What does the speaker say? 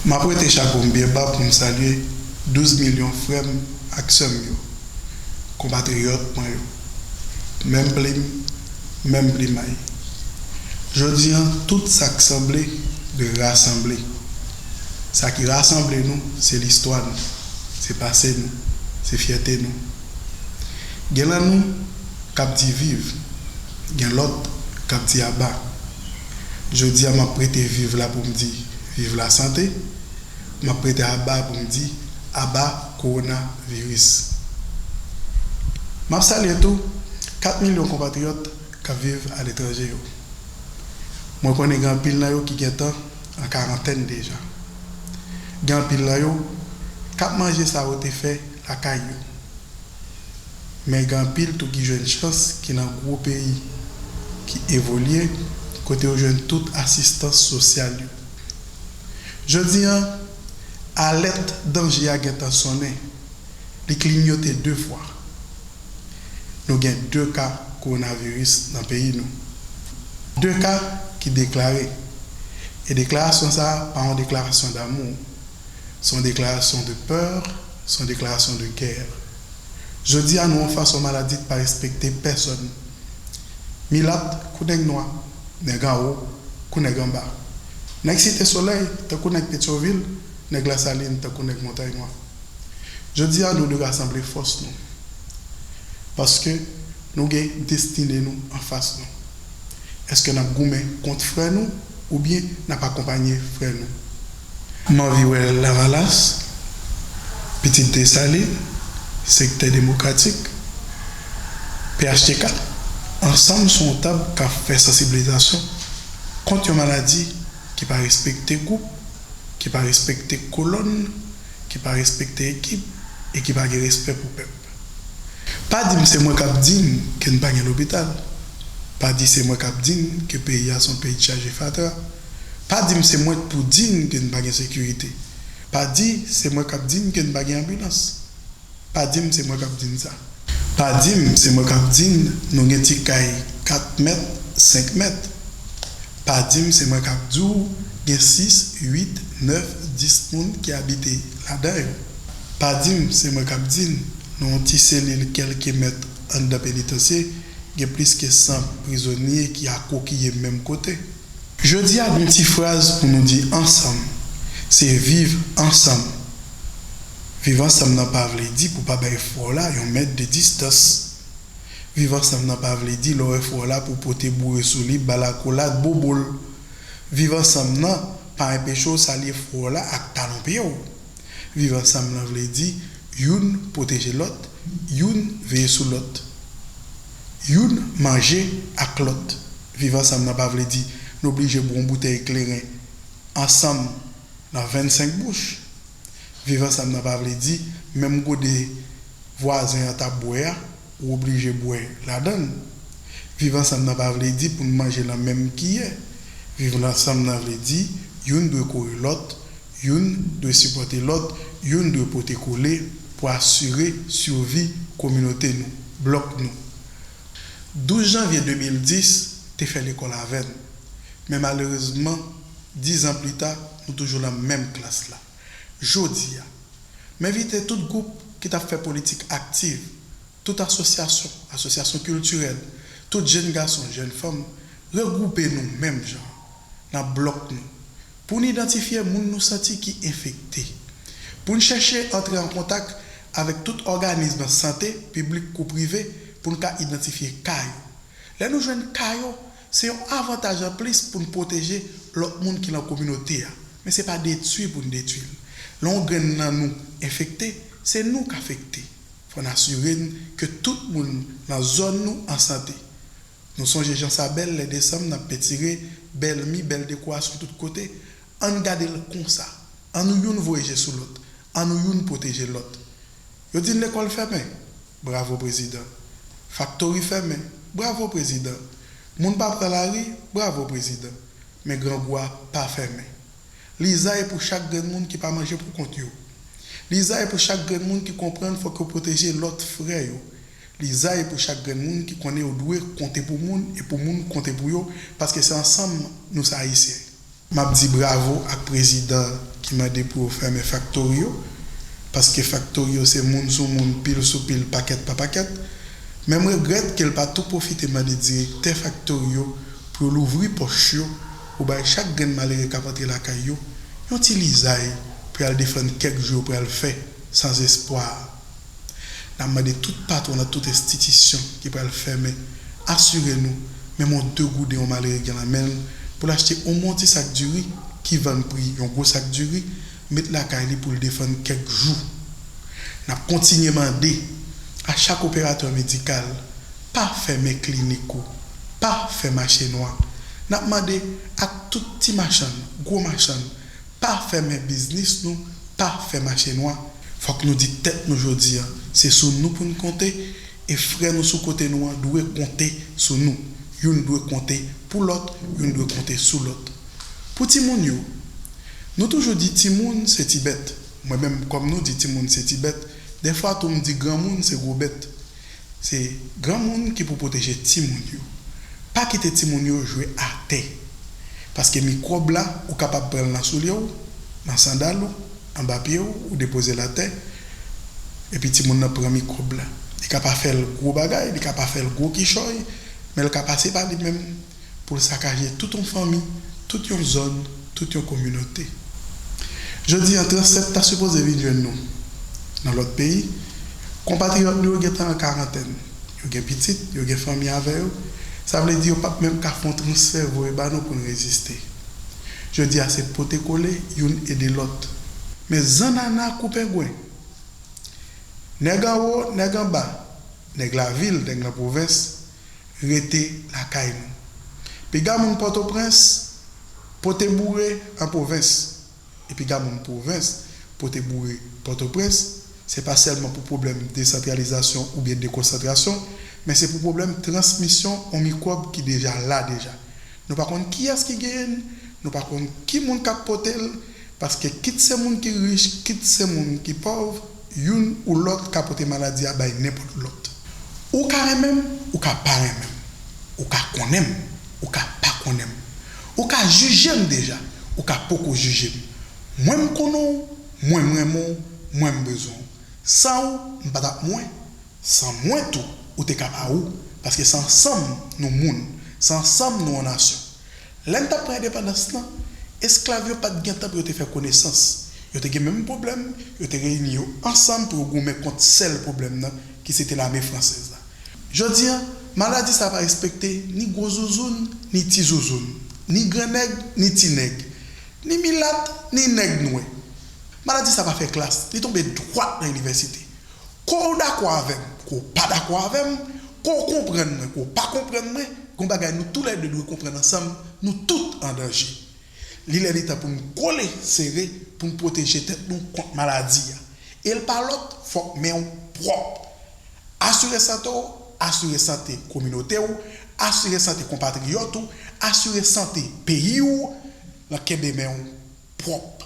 M ap wete chapo m byen ba pou m salye 12 milyon frè m ak sè m yo, konpatriyòt mwen yo. Menm plim, menm plimay. Jodi an, tout sa k sanble dwe rasanble. Sa ki rasanble nou, se listwa nou, se pase nou, se fyète nou. Gen lan nou k ap di viv, gen lòt k ap di aba. Jodi a m ap prete viv la pou m di viv lasante, m ap prete aba a pou m di aba kowonaviris. M ap salye tou 4 milyon konpatriyòt k ap viv aletranje yo. Mwen konnen gen anpil nan yo ki gentan an karantèn deja. Gen anpil nan yo k ap manje sa yo te fè. lakay yo. Men gen anpil tou ki jwenn chans ki nan gwo peyi ki evolye kote yo jwenn tout asistans sosyal yo. Jodi an, alèt danje a gentan sonnen, li klinyote 2 fwa. Nou gen 2 ka kowonaviris nan peyi nou. 2 ka ki deklare. E deklarasyon sa a pa yon deklarasyon damou. Se yon deklarasyon de peur, se yon deklarasyon de guerre. Jodi a nou an fas yon maladi ki pa respekte pèsòn. Milat kou nèg nwa, nèg anwo kou nèg anba. Nèg Site Solèy tankou nèg Petyonvil, nèg Lasalin tankou nèg Montay Nwa. Jodi a nou dwe rasanble fòs nou. Paske nou gen destine nou an fas nou. Eske n ap goumen kont frè nou oubyen n ap akonpanye frè nou? M anvi wè lavalas, pitit Desalin, sektè demokratik, phtk, ansanm sou yon tab k ap fè sansibilizasyon kont yon maladi ki pa respekte gwoup, ki pa respekte kolòn, ki pa respekte ekip e ki pa gen respè pou pèp. Pa di m se mwen k ap di n ke n pa gen lopital, pa di se mwen k ap di n ke peyi a se yon peyi chaje fatra. Pa di m se mwen k pou di n ke n pa gen sekirite. Pa di se mwen k ap di n ke n pa gen anbilans. Pa di m se mwen k ap di n sa. Pa di m se mwen k ap di n nou gen ti kay 4 mèt, 5 mèt. Pa di m se mwen k ap di w gen 6, 8, 9, 10 moun ki abite ladan yo. Pa di m se mwen k ap di n nan yon ti selil kèlke mèt anndan penitansye gen plis ke 100 prizonye ki akwokiye menm kote. Jodi a gon ti fraz pou nou di ansanm se viv ansanm. Viv ansanm nan pa vle di pou pa bay frè w la yon mèt de distans. Viv ansanm nan pa vle di lè w wè frè w la pou w pote boure sou li ba l akolad bobo l. Viv ansanm nan pa enpeche w salye frè w la ak talon pye w. Viv ansanm lan vle di youn pwoteje lòt, youn veye sou lòt. Youn manje ak lòt. Viv ansanm nan pa vle di n oblije bwè yon boutèy kleren ansanm nan 25 bouch. Viv ansanm nan pa vle di menm gode vwazen an t ap bwè a, ou oblije bwè ladan l. Viv ansanm nan pa vle di pou n manje nan menm kiyè. Viv ansanm nan vle di youn dwe kore lòt, youn dwe sipòte lòt, youn dwe pote kole pou asire sivi kominote nou. Blòk nou. 12 janvye 2010 te fè lekòl avè n, men malerezman dizan plita nou toujou lan menm klas la. Jodi a, m envite tout gwoup ki t ap fè politik aktiv, tout asosyasyon, asosyasyon kiltirèl, tout jenn gason, jenn fanm, regwoupe nou menm jan. nan blòk nou pou n idantifye moun nou santi ki enfekte, pou n chèche antre an kontak avèk tout òganism sante, piblik kou prive, pou n ka idantifye ka yo. Lè nou jwenn ka yo, se yon avantaj an plis pou n pwoteje lòt moun ki lan kominote a, men se pa detwi pou n detwi l. Lè yon grenn nan nou enfekte, se nou k afekte. Fò n asire n ke tout moun lan zòn nou an sante. Nou sonje jan sa bèl lè desanm nan pentire bèl mi, bèl dekorasyon tout kote. Ann gade l konsa. Annou youn voye je sou lòt. Annou youn pwoteje lòt. Yo di n lekòl fèmen. Bravo prezidan. Faktori fèmen. Bravo prezidan. Moun pa pran lari. Bravo prezidan. Men grangou a pa fèmen. Lizay pou chak grenn moun ki pa manje pou kont yo. Lizay pou chak grenn moun ki konprann fòk yo pwoteje lòt frè yo. Lizay pou chak grenn moun ki konnen yo dwe konte pou moun e pou moun konte pou yo paske se ansanm nou se ayisyen. Map di bravo ak prezidan ki mande pou yo fèmen faktori yo paske faktori yo se moun sou moun pil sou pil pakèt pa pakèt men m regrèt ke l pa tou pwofite mande direktè faktori yo pou yo louvri pòch yo pou bay chak grenn malere kap antre lakay yo yon ti lizay pou y al defann kèk jou yo pral fè san zespwa. Nap mande tout patwon nan tout enstitisyon ki pral fèmen asire nou menm yon 2 gouden yon malere gen lan menl poul achte omwen ti sak diri ki vann pri yon gwo sak diri met lakay li poul defann kèk jou. Nap kontinye mande a chak operatè medikal pa fèmen klinik ou, pa fè mache nwa. Nap mande ak tout ti machann, gwo machann, Pa fèmen biznis nou, pa fè mache nwa. Fòk nou di tèt nou jodi a, se sou nou pou n konte, e frè nou sou kote nou an dwe konte sou nou. Youn dwe konte pou lòt, youn dwe konte sou lòt. Pou timoun yo, Nou toujou di timoun se ti bèt. Mwen menm kòm nou di timoun se ti bèt, dèfwa tou m di granmoun se gwo bèt. Se granmoun ki pou pwoteje timoun yo. Pa kite timoun yo jwe atè. Paske mikwòb la ou kapab pran l nan soulye w, nan sandal ou, anba pye w, ou depoze l atè, epi timoun nan pran mikwòb la. Li ka pa fè l gwo bagay, li ka pa fè l gwo kichòy, men l ka pase pa li menm. pou l sakaje tout yon fanmi, tout yon zòn, tout yon kominote. Jodi an, Translate ta sipoze vin jwenn nou nan lòt peyi. Konpatriyòt nou yo gentan an karantèn, yo gen pitit, yo gen fanmi avè yo, sa vle di yo pap menm ka fè yon transfè voye ba nou pou n reziste. Jodi a se pote kole, youn ede lòt. Men zannana kou pengwen! Nèg anwo, nèg anba! Nèg lavil, nèg nan pwovens, rete lakay nou. Piga moun Pòtoprens pote boure an pwovens, e piga moun pwovens pote boure Pòtoprens, se pa sèlman pou pwoblèm desantralizasyon oubyen dekonsantrasyon, men se pou pwoblèm transmisyon on mikwòb ki deja la deja. Nou pa konn kiyès ki genyen l, nou pa konn ki moun k ap pote l, paske kit se moun ki rich, kit se moun ki pòv, youn ou lòt ka pote maladi a bay nenpòt lòt. Ou ka renmen m, ou ka pa renmen m, ou ka konnen m, ou ka pa konnen m, ou ka jije m deja, ou ka poko jije m, mwen m konnen w, mwen m renmen w, mwen m bezwen w. San ou, m pa t ap mwen. San mwen tou ou te ka pa ou, paske se ansanm nou moun, se ansanm nou an nasyon. Lè n t ap pran endepandans lan, esklav yo pa t gen tan pou yo te fè konesans. Yo te gen menm pwoblèm, yo te reyini yo ansanm pou yo goumen kont sèl pwoblèm nan ki se te lame fransèz la. Jodi a, maladi sa a pa respekte ni gwo zouzoun ni ti zouzoun, ni gran nèg ni ti nèg, ni milat ni nèg nwè. Maladi sa a pa fè klas, li tonbe dwat nan inivèsite. Ko w dakò avè m, ko w pa dakò avè m, ko w konprann mwen, ko w pa konprann mwen, gen yon bagay nou tou lè de dwe konprann ansanm, nou tout an danje. Li lè li tan pou n kole sere pou n pwoteje tèt nou kont maladi a. E l pa lòt, fòk men w pwòp. Asire sante w, asire sante kominote w, asire sante konpatriyòt ou, asire sante peyi w lan kenbe men w pwòp.